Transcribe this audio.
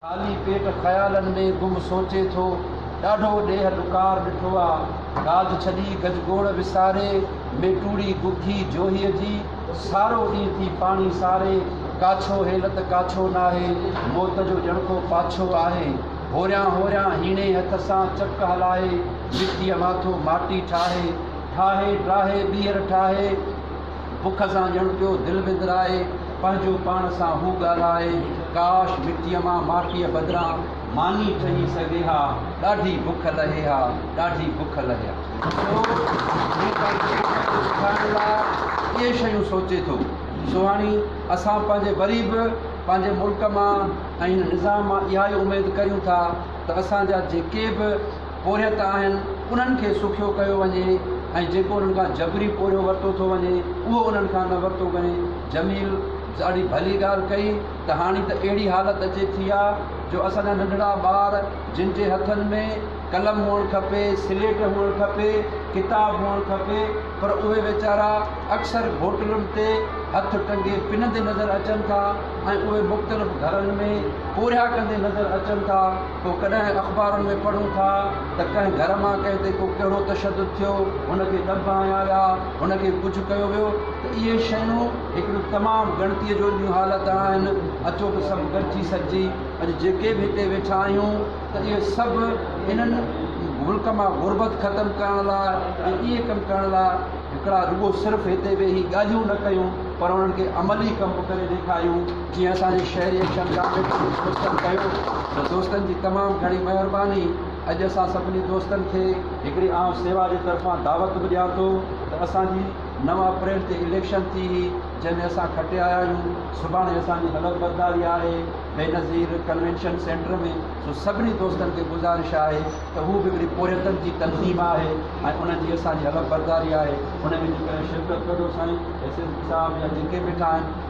خالي پيٽ خيالن ۾ گم سوچي ٿو. ڏاڍو ڏيهه ڏڪار ڏٺو آ. گاج ڇڏي گجگوڙ وساري، ميٽوڙي گگهي جوهيء جي، سارو ڏينهن ٿي پاڻي ساري، ڪاڇو هيلت ڪاڇو ناهي، موت جو ڄڻڪو پاڇو آهي. هوريان هوريان هيڻي هٿ سان چڪ هلائي، مٽيء ماٿو ماٽي ٺاهي، ٺاهي ٽاهي ٻيهر ٺاهي، بک سان ڄڻ پيو دل وندرائي، پنهنجو پاڻ سان هو ڳالهائي، ڪاش مٽيء مان ماٽيء بدران ماني ٺهي سگهي ها، ڏاڍي بک لهي ها، ڏاڍي بک لهي ها. سو هو پنهنجي بک کي ٻڌائڻ لاء اهي شيون سوچي ٿو. سهاڻي، اسان پنهنجي وري به پنهنجي ملڪ مان ۽ هن نظام مان اها ئي اميد ڪريون ٿا ته اسان جا جيڪي به پورهيت آهن، انهن کي سکيو ڪيو وڃي ۽ جيڪو انهن کان جبري پورهيو ورتو ٿو وڃي، اهو انهن کان نه ورتو وڃي. جميل، ڏاڍي ڀلي ڳالهه ڪئي ته هاڻي ته اهڙي حالت اچي ٿي آ جو اسان جا ننڍڙا ٻار جن جي هٿن ۾ قلم هئڻ کپي، سليٽ هئڻ کپي، ڪتاب هئڻ کپي پر اهي ويچارا اڪثر گهوٽلن تي هٿ ٽنگي پنندي نظر اچن ٿا ۽ اهي مختلف گهرن ۾ پورهيا ڪندي نظر اچن ٿا. پوء ڪڏهن اخبارن ۾ پڙهون ٿا ته ڪنهن گهر مان ڪنهن تي ڪو ڪهڙو تشدد ٿيو، هن کي ڏنڀ هنيا ويا، هن کي ڪجهه ڪيو ويو ته اهي شيون هڪڙيون تمام ڳڻتيء جوڳيون حالت آهن، اچو ته سڀ گڏجي سڏجي اڄ جيڪي به هتي ويٺا آهيون ته اهي سڀ انهن ملڪ مان غربت ختم ڪرڻ لاء ۽ اهي ڪم ڪرڻ لاء هڪڙا رڳو صرف هتي ويهي ڳالهيون نه ڪيون پر انهن کي عملي ڪم به ڪري ڏيکاريون. جيئن اسان جي شهري ايڪشن ڪامريڊ جي دوستن ڪيو ته دوستن جي تمام گهڻي مهرباني اڄ اسان سڀني دوستن کي هڪڙي عام سيوا جي طرفان دعوت به ڏيان ٿو ته اسان جي نو اپريل تي اليڪشن ٿي هئي جنهن ۾ اسان کٽي آيا آهيون سڀاڻي اسان جي حلف برداري آهي بينظير ڪنوينشن سينٽر ۾ سو سڀني دوستن کي گذارش آهي ته هو به هڪڙي پورهيتن جي تنظيم آهي ۽ انهن جي اسان جي حلف برداري آهي ان ۾ جيڪڏهن شرڪت ڪندو سائين ايس ايس پي صاحب يا جيڪي به ٺاهن